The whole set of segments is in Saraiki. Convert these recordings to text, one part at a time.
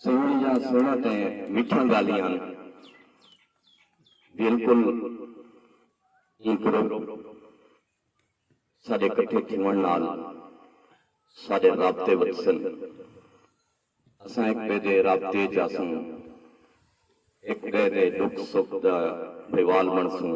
سوہݨیاں سوہݨاں تے مٹھیاں ڳالھیاں ہن۔ بالکل ایں گروپ ساݙے کٹھے تھیوݨ نال ساݙے رابطے ودھسن۔ اساں ہک ٻئے دے رابطے ءچ آسوں، ہک ٻئے دے ݙکھ سکھ دا بھیوال بݨسوں،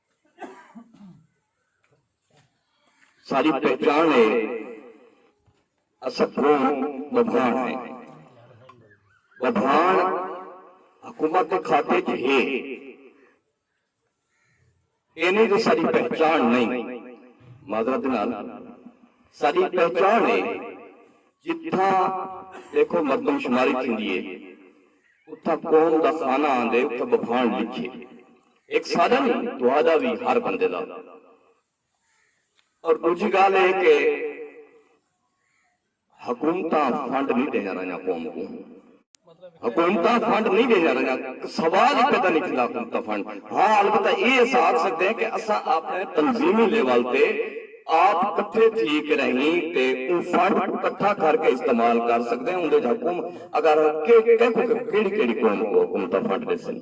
ساری پہچان ہے اسا کون بدھان ہے بدھان حکومت کے کھاتے چ ہے اینی تو ساری پہچان نہیں معذرت نال ساری پہچان ہے جتھا دیکھو مردم شماری تھی دیئے اتھا قوم دا خانہ آندے اتھا ببھان لکھے ہک ساڈا نی تہاڈا وی ہر بندے دا اور ڈوجھی گالھ اے کہ حکومتاں فنڈ نی ڈیندیاں رہیاں قوم کوں حکومتاں فنڈ نی ڈیندیاں رہیاں سوال ای پیدا نی تھیندا حکومتاں فنڈ ہاں البتہ اے اس آکھ سکدے ہیں کہ اساں اپنے تنظیمی لیول تے آپ کٹھے تھی کے رہیں تے اوں فنڈ کوں کٹھا کر کے استعمال کر سکدے ہیں اوندے اچ حکومت اگر کیکوں کیکوں کیڑی کیڑی قوم کوں حکومتاں فنڈ ڈیسن۔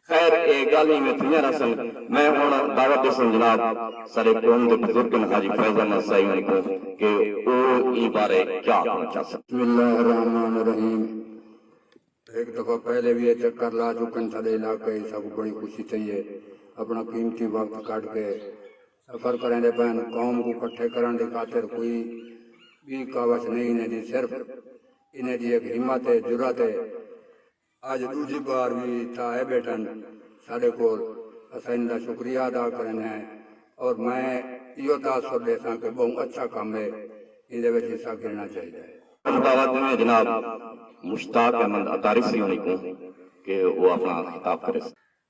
خیر اے گالھ اینویں تھیاں رہسن۔ میں ہنڑ دعوت ڈیساں جناب ساڈے قوم دے بزرگ ہن حاجی فیض احمد سائی ہنڑ کوں کہ او ایں بارے کیا آکھنڑ چاہسن۔ بسم اللہ الرحمن الرحیم ہک دفعہ پہلے وی اے چکر لا چکن ساڈے علاقے اچ سب بڑی خوشی تھئی اے اپنڑا قیمتی وقت کڈھ کے سفر کریندے پئن قوم کوں کٹھے کرنڑ دی خاطر کوئی بی کاوش نئیں انہیں دی صرف انہیں دی ہک ہمت اے جرات اے اج ڈوجھی بار وی اتھا آئے بیٹھن ساڈے کول اساں انہاں دا شکریہ ادا کرن ہیں اور میں ایہو تاثر ڈیساں کہ بہوں اچھا کم ہے ایندے وچ حصہ گھننا چاہیدا ہے۔ مبارکباد دیندے ہیں جناب مشتاق احمد عطارسی ہونی کوں کہ او اپنڑاں خطاب کریسن۔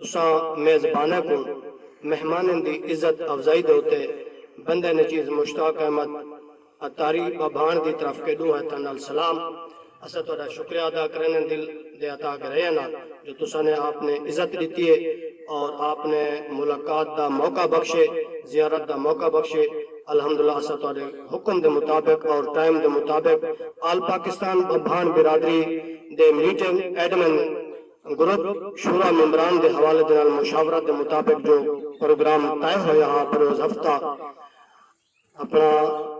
تساں میزباناں کوں مہماناں دی عزت افزائی دے اتے بندہ نچیز مشتاق احمد عطاری بابھاݨ دی طرف کے ݙوں ہتھاں نال سلام۔ اساں تہاݙا شکریہ ادا کریندے ہیں دل دے اتا گھریاں نال جو تساں نے آپ نے عزت ݙتی ہے اور آپ نے ملاقات دا موقع بخشے، زیارت دا موقع بخشے۔ الحمدللہ اساں تہاݙے حکم دے مطابق اور ٹائم دے مطابق آل پاکستان بابھاݨ برادری دے میٹنگ ایڈمن، گروپ شورا ممبران دے حوالے دے نال مشاورت دے مطابق جو پروگرام طے ہویا ہا بروز ہفتہ اپنا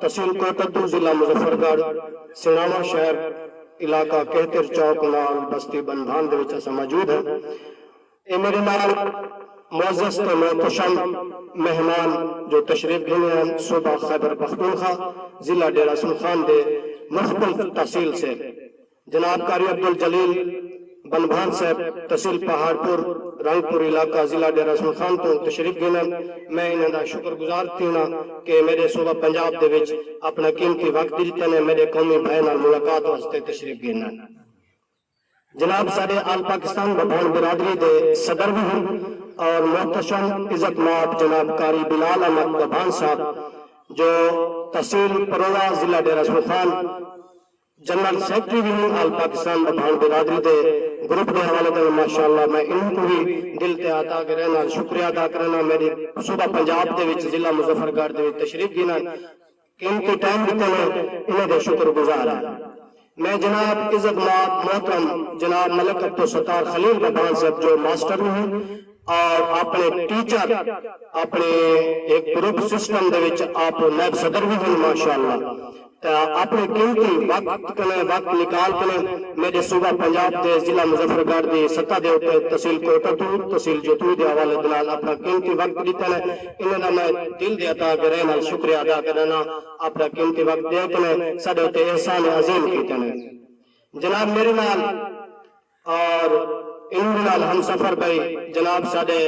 تحصیل کوٹدو ضلع مظفر گڑھ سناواں شہر علاقہ کہتر چوک نال بستی بنبھان دے وچ اساں موجود ہیں اے میڈے نال معزز تے محتشم مہمان جو تشریف گھنے ہیں صوبہ خیبر پختونخوا ضلع ڈیرہ سن خان دے مختلف تحصیل سے جناب قاری عبدالجلیل بنبھان صاحب تحصیل پہاڑپور رنگ پور علاقہ ضلع ڈیرہ حسن خان توں تشریف گھنن میں انہاں دا شکر گزار تھیوݨاں کہ میڈے صوبہ پنجاب دے وچ اپݨا قیمتی وقت ڈتے نے میڈے قومی بھائیں نال ملاقات واسطے تشریف گھنن۔ جناب ساڈے آل پاکستان ببھان برادری دے صدر وی ہن اور محتشم عزت مآب جناب قاری بلال احمد ببھان صاحب جو تحصیل پروہ ضلع ڈیرہ حسن خان جنرل سیکرٹری وی ہن آل پاکستان دا بھاݨ برادری دے گروپ دے حوالے توں ماشاء اللہ میں انہاں کوں وی دل تے ہتھ آکے رہݨ نال شکریہ ادا کرݨاں میݙے صوبہ پنجاب دے وچ ضلع مظفر گڑھ دے وچ تشریف گھنݨ قیمتی ٹائم ݙتے نے انہاں دے شکر گزار ہیں میں جناب عزت مآب محترم جناب ملک عبدالستار خلیل دا بھاݨ صاحب جو ماسٹر وی ہن اور آپݨے ٹیچر آپݨے ہک گروپ سسٹم دے وچ آپ نائب صدر وی ہن ماشاء اللہ تاں اپݨے قیمتی وقت کنوں وقت نکال کنوں میݙے صوبہ پنجاب دے ضلع مظفر گڑھ دی سطح دے اتے تحصیل کوئٹہ توں تحصیل جتوئی دے حوالے دے نال اپݨا قیمتی وقت ݙتن انھاں دا میں دل دے اتا گہرائی نال شکریہ ادا کرݨاں اپݨا قیمتی وقت ݙے کنوں ساݙے اتے احسان عظیم کیتن جناب میݙے نال اور انہاں دے نال ہمسفر بئے جناب ساڈے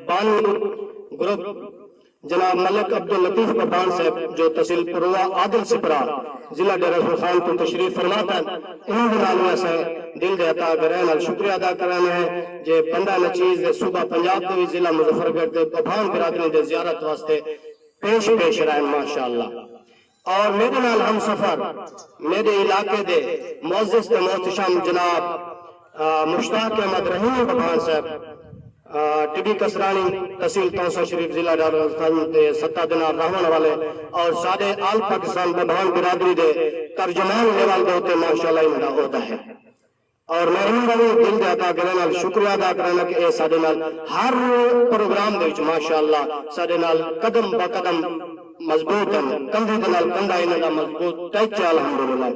بانی گروپ جناب ملک عبداللطیف ببان صاحب جو تحصیل پروہ عادل سپرا ضلع ڈیرہ غور خان توں تشریف فرما تن انہاں دے نال وی اساں دل دے عطا گرہ نال شکریہ ادا کرانے ہیں جے بندہ نچیز دے صوبہ پنجاب دے وی ضلع مظفرگڑھ دے ببان برادری دے زیارت واسطے پیش پیش رہن ماشاءاللہ اور میڈے نال ہم سفر میڈے علاقے دے معزز تے محتشم جناب مشتاق احمد رحیمی ببھان صاحب ٹبی کسرانی تحصیل تونسہ شریف ضلع ڈالرالسنجھ دے ستہ دنار راہون والے اور ساڈے آل پاکستان ببھان برادری دے ترجمان لیول دے اتے مارشل لاء انہاں دا عہدہ ہے۔ اور محروماں دا وی دل دے عطا گلیں نال شکریہ ادا کرانڑاں کہ اے ساڈے نال ہر پروگرام دے وچ ماشاءاللہ ساڈے نال قدم بہ قدم مضبوط ہن کندھے دے نال کندھا انہاں دا مضبوط ٹچ ہے الحمدللہ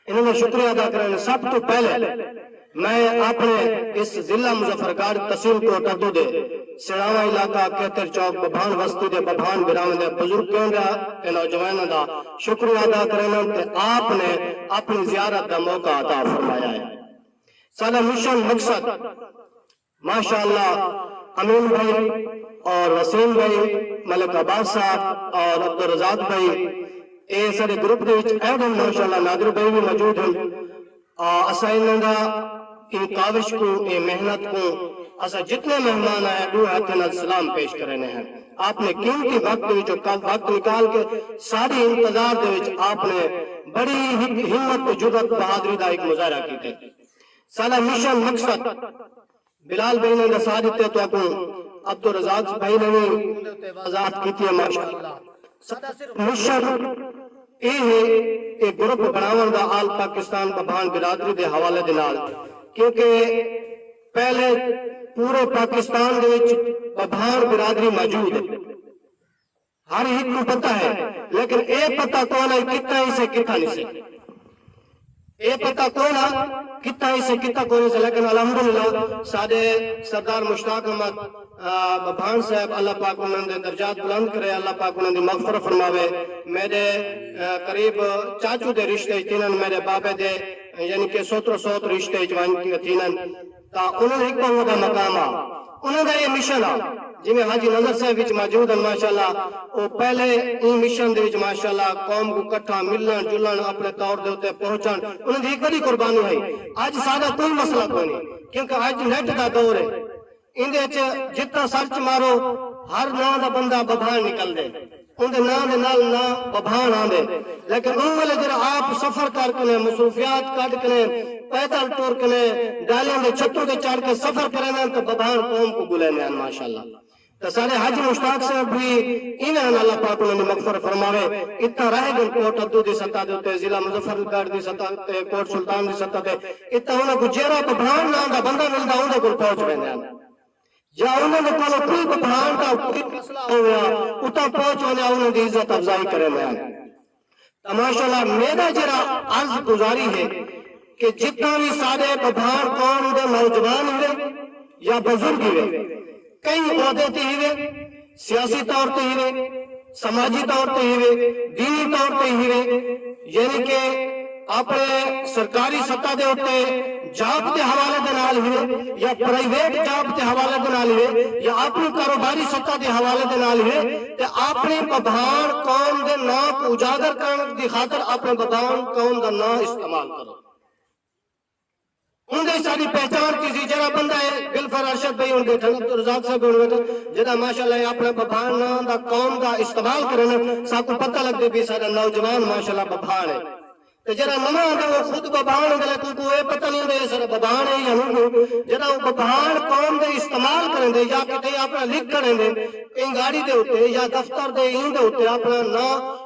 انہاں دا شکریہ ادا کرانڑاں سب توں پہلے میں اپنڑے اس ضلع مظفرگڑھ تحصیل کوٹ ادو دے سنڑاواں علاقہ کھیتر چوک ببھان وستی دے ببھان بھراواں دے بزرگ کینڈرا تے نوجواناں دا شکریہ ادا کریندن تے آپ نے اپنڑی زیارت دا موقع عطا فرمایا ہے ساڈا مشن مقصد ماشاء اللہ امین بھائی اور وسیم بھائی ملک عباس صاحب اور عبدالرزاق بھائی اے ساڈے گروپ دے وچ ایڈ ہن ماشاء اللہ نادر بھائی وی موجود ہن۔ آ اساں انہاں دا ایں کاوش کوں ایں محنت کوں اساں جتنے مہمان آئے ہیں ڈو ہتھیں نال سلام پیش کرینے ہیں آپ نے قیمتی وقت دے وچوں کم وقت نکال کے ساڈی انتظار دے وچ آپ نے بڑی ہک ہمت تے جرات بہادری دا ہک مظاہرہ کیتے ساڈا مشن مقصد بلال بھائی نے ڈسا ڈتے تہاکوں عبدالرزاق بھائی نے وی اوندے اتے واضاحت کیتی ہے ماشاءاللہ ساڈا صرف مشن اے ہے اے گروپ بناون دا آل پاکستان ببھان برادری دے حوالے دے نال کیونکہ پہلے پورے پاکستان دے وچ ببھان برادری موجود ہے۔ ہر ہک کوں پتہ ہے لیکن اے پتہ کوئناں اے کتھاں ہیسے کتھاں نھیسے۔ اے پتہ کوئناں کتھاں ہیسے کتھاں کوئناں نھیسے لیکن الحمدللہ ساڈے سردار مشتاق احمد بھاݨ صاحب اللہ پاک انہاں دے درجات بلند کرے اللہ پاک انہاں دی مغفرت فرماوے میݙے قریب چاچو دے رشتے اچ تھینن میݙے بابے دے یعنی کہ سوترو سوت رشتے اچ ونڄ تھینن۔ تاں انہاں ہک پاوں دا مقام ہا انہاں دا اے مشن ہا جیویں حاجی نذر صاحب وچ موجود ہن ماشاءاللہ او پہلے ایں مشن دے وچ ماشاءاللہ قوم کوں کٹھا ملن جلن اپنے طور دے اتے پہنچن انہاں دی ہک وڈی قربانی ہئی اج ساڈا کوئی مسئلہ کوئنی کیونکہ اج نیٹ دا دور اے ایندے وچ جتھاں سرچ مارو ہر ناں دا بندہ ببھان نکلدے۔ اوندے ناں دے نال ناں ببھان آندے لیکن اوں ویلے جیرھا آپ سفر کر کنے مصروفیات کڈھ کنے پیدل ٹر کنے ڈالیاں دے چھتوں تے چڑھ کے سفر کریندن تے ببھان قوم کوں بلیندے ہن ماشاءاللہ تے ساڈے حاجی مشتاق صاحب وی ایویں ہن اللہ پاک انہاں دی مغفرت فرماوے اتھاں رہ گن کوٹ ادو دی سطح دے اتے ضلع مظفر گڑھ دی سطح اتے کوٹ سلطان دی سطح تے اتھاں انہاں کوں جیرھا ببھان ناں دا بندہ ملدا اوندے کول پہنچ ویندے ہن۔ یا انہاں دے کولوں کوئی بدھاوݨ دا کوئی مسئلہ ہوویا اتاں پہنچ ونڄاں انہاں دی عزت افزائی کریندیاں ہن تاں ماشاء اللہ میݙا جیڑھا عرض گزاری ہے کہ جتاں وی ساݙے بدھاوݨ قوم دے نوجوان ہیوے یا بزرگ ہیوے کہیں عہدے تے ہیوے سیاسی طور تے ہیوے، سماجی طور تے ہیوے، دینی طور تے ہیوے یعنی کہ اپݨے سرکاری سطح دے اتے جاب دے حوالے دے نال ہیوے یا پرائیویٹ جاب دے حوالے دے نال ہیوے یا اپݨی کاروباری سطح دے حوالے دے نال ہیوے تے اپݨی بھبھان قوم دے ناں کوں اجاگر کرݨ دی خاطر اپݨے بھبھان قوم دا ناں استعمال کرو۔ اوندے ساڈی پہچان تھیسی جیرھا بندہ اے گلفر ارشد بھئی ہن بیٹھن عبد الرزاق صاحب ہن بیٹھن جیرھا ماشاءاللہ اے اپنڑے ببھان ناں دا قوم دا استعمال کرن ساکوں پتہ لگدی پی ساڈا نوجوان ماشاءاللہ ببھان اے تے جیرھا نواں آندے او خود ببھان ہوندے لیکن اوکوں اے پتہ نی ہوندے اے ساڈا ببھان اے یا نوہوں جیرھا او ببھان قوم دے استعمال کریندے یا کتھے اپنڑا لکھ کھڑیندے انگاڑی دے اتے یا دفتر دے ایں دے اتے اپنڑا ناں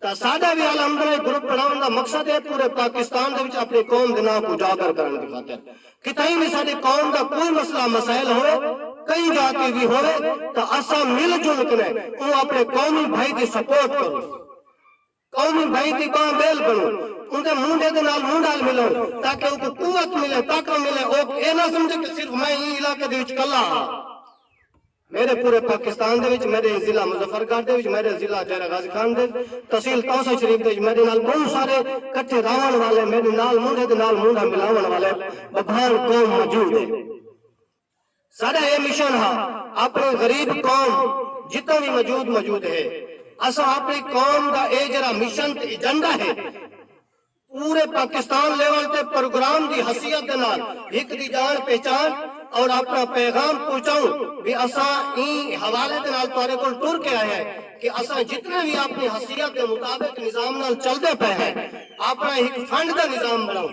تاں ساڈا وی الحمداللہ گروپ بنڑاونڑ دا مقصد اے پورے پاکستان دے وچ اپنڑی قوم دے ناں کوں اجاگر کرنڑ دی خاطر کتھائیں وی ساڈی قوم دا کوئی مسئلہ مسائل ہووے کہیں جاہ تے وی ہووے تاں اساں مل جل کنیں اوں اپنڑے قومی بھائی دی سپورٹ کروں قومی بھائی دی بانہہ بیل بنڑوں اوندے مونڈھے دے نال مونڈھال ملوں تاکہ اوکوں قوت ملے طاقت ملے اوک اے نہ سمجھے کہ صرف میں ایں علاقے دے وچ کلھا ہاں۔ میݙے پورے پاکستان دے وچ میݙے ضلع مظفر گڑھ دے وچ میݙے ضلع ڈیرہ غازی خان دے وچ تحصیل توسہ شریف دے وچ میݙے نال ٻہوں سارے کٹھے رہوݨ والے میݙے نال مونڈھے دے نال مونڈھا ملاوݨ والے ببھان قوم موجود ہے ساݙا ایہ مشن ہا آپݨی غریب قوم جتھاں وی موجود موجود ہے اساں آپݨی قوم دا ایہ جیڑھا مشن تے ایجنڈا ہے پورے پاکستان لیول تے پروگرام دی حثیت دے نال ہک دی جان پہچان اور اپنا پیغام پہنچاؤں وی اساں ایں حوالے دے نال تہاڈے کول ٹر کے آئے ہیں کہ اساں جتنے وی اپنی حثیت دے مطابق نظام نال چلدے پئے ہیں اپنا ہک فنڈ دا نظام بناؤں۔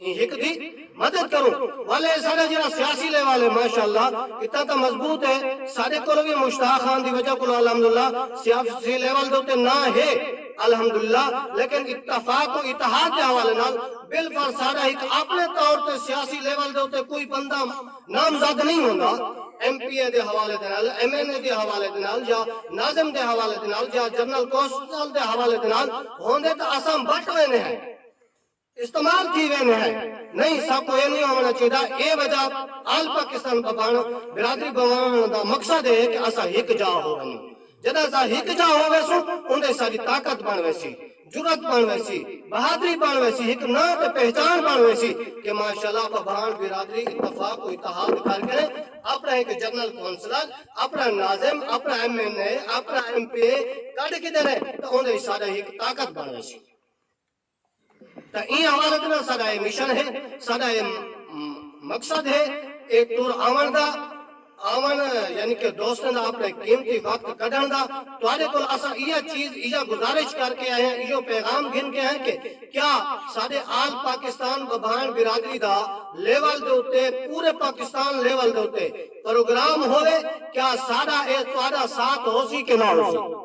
ایں ہک دی مدد کروں والے سارے جڑا سیاسی لے والے ماشاءاللہ اتا تا مضبوط ہے سارے کولو بھی مشتاق خان دی وجہ کولو الحمدللہ سیاسی لے والے تے نا ہے الحمدللہ لیکن اتفاق و اتحاد دے حوالے نال بالفر سارا ہک اپنے طور تے سیاسی لے والے تے کوئی بندہ نامزد نہیں ہوندا ایم پی اے دے حوالے دے نال ایم این اے دے حوالے دے نال یا ناظم دے حوالے دے نال یا جنرل کوسٹل دے حوالے دے نال ہوندے تا اساں بٹ وینے ہیں استعمال تھی ویندے ہیں نہیں سب کوں اے نہیں ہووݨا چاہیدا اے وجہ آل پاکستان ببݨ برادری بوݨ دا مقصد اے کہ اساں ہک جاہ ہو ونڄوں جݙاں اساں ہک جاہ ہو ویسوں اوندے ساݙی طاقت بݨ ویسی جرات بݨ ویسی بہادری بݨ ویسی ہک ناں تے پہچان بݨ ویسی کہ ماشاءاللہ ببݨ برادری اتفاق و اتحاد کر کے اپݨا ہک جنرل کونسلر اپݨا ناظم اپݨا ایم این اے اپݨا ایم پی اے کڈھ گھدے نے تاں اوندے اچ ساݙا ہک طاقت بݨ ویسی۔ تاں ایں حوالت نال ساڈا اے مشن ہے، ساڈا اے مقصد ہے اے ٹر آونڑ دا، آونڑ یعنی کہ دوستاں دا اپنڑے قیمتی وقت کڈھنڑ دا، تہاڈے کول اساں ایہا چیز ایہا گزارش کر کے آئے ہاں ایہو پیغام گھن کے آئے کہ کیا ساڈے آل پاکستان ببھان برادری دا لیول دے اتے پورے پاکستان لیول دے اتے پروگرام ہووے کیا ساڈا اے تہاڈا ساتھ ہوسی کہ نہ ہوسی۔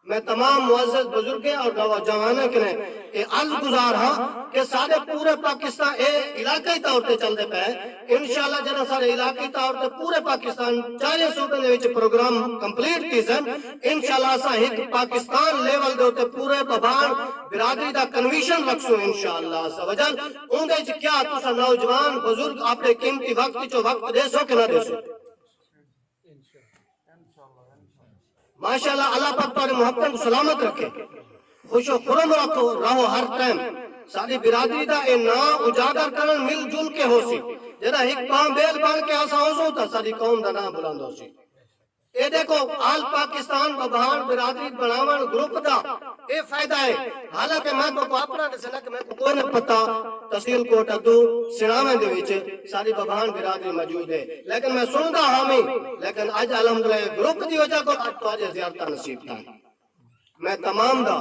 میں تمام معزز بزرگیں اور نوجواناں کنیں اے عرض گزار ہاں کہ ساڈے پورے پاکستان اے علاقائی طور تے چلدے پئے انشاءاللہ جڈاں ساڈے علاقائی طور تے پورے پاکستان چاریں صوبیں دے وچ پروگرام کمپلیٹ تھیسن انشاءاللہ اساں ہک پاکستان لیول دے اتے پورے بھباݨ برادری دا کنویشن رکھسوں انشاءاللہ عزوجل اوندے وچ کیا تساں نوجوان بزرگ اپݨے قیمتی وقت وچوں وقت ݙیسو کہ نہ ݙیسو؟ ماشاءاللہ اللہ پاک تہاڈے محبتاں کوں سلامت رکھے خوش و خرم رکھو رہو ہر ٹائم ساڈی برادری دا اے ناں اجاگر کرن مل جل کے ہوسی جڈاں ہک بانہہ بیل بن کے اساں ہوسوں تاں ساڈی قوم دا ناں بلند ہوسی اے ڈیکھو آل پاکستان ببھان برادری بنڑاونڑ گروپ دا اے فائدہ اے۔ حالانکہ میں تہاکوں اپنا ݙسݨ لڳاں کہ میکوں کوئی نہ پتہ تحصیل کوٹ ادو سݨاویں دے وچ ساݙی بھبھان برادری موجود ہے لیکن میں سݨدا ہاویں لیکن اڄ الحمدللہ اے گروپ دی وجہ کول اڄ تہاݙیاں زیارتاں نصیب تھئن میں تمام دا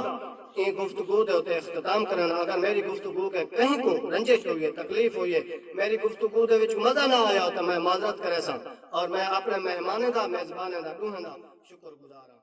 ایں گفتگو دے اتے اختتام کرݨ اگر میݙی گفتگو کے کہیں کوں رنجش ہوئی ہے تکلیف ہوئی ہے میݙی گفتگو دے وچ مزہ نہ آیا تاں میں معذرت کریساں اور میں اپݨے مہمانیں دا میزبانیں دا ݙوہیں دا شکر گزار ہاں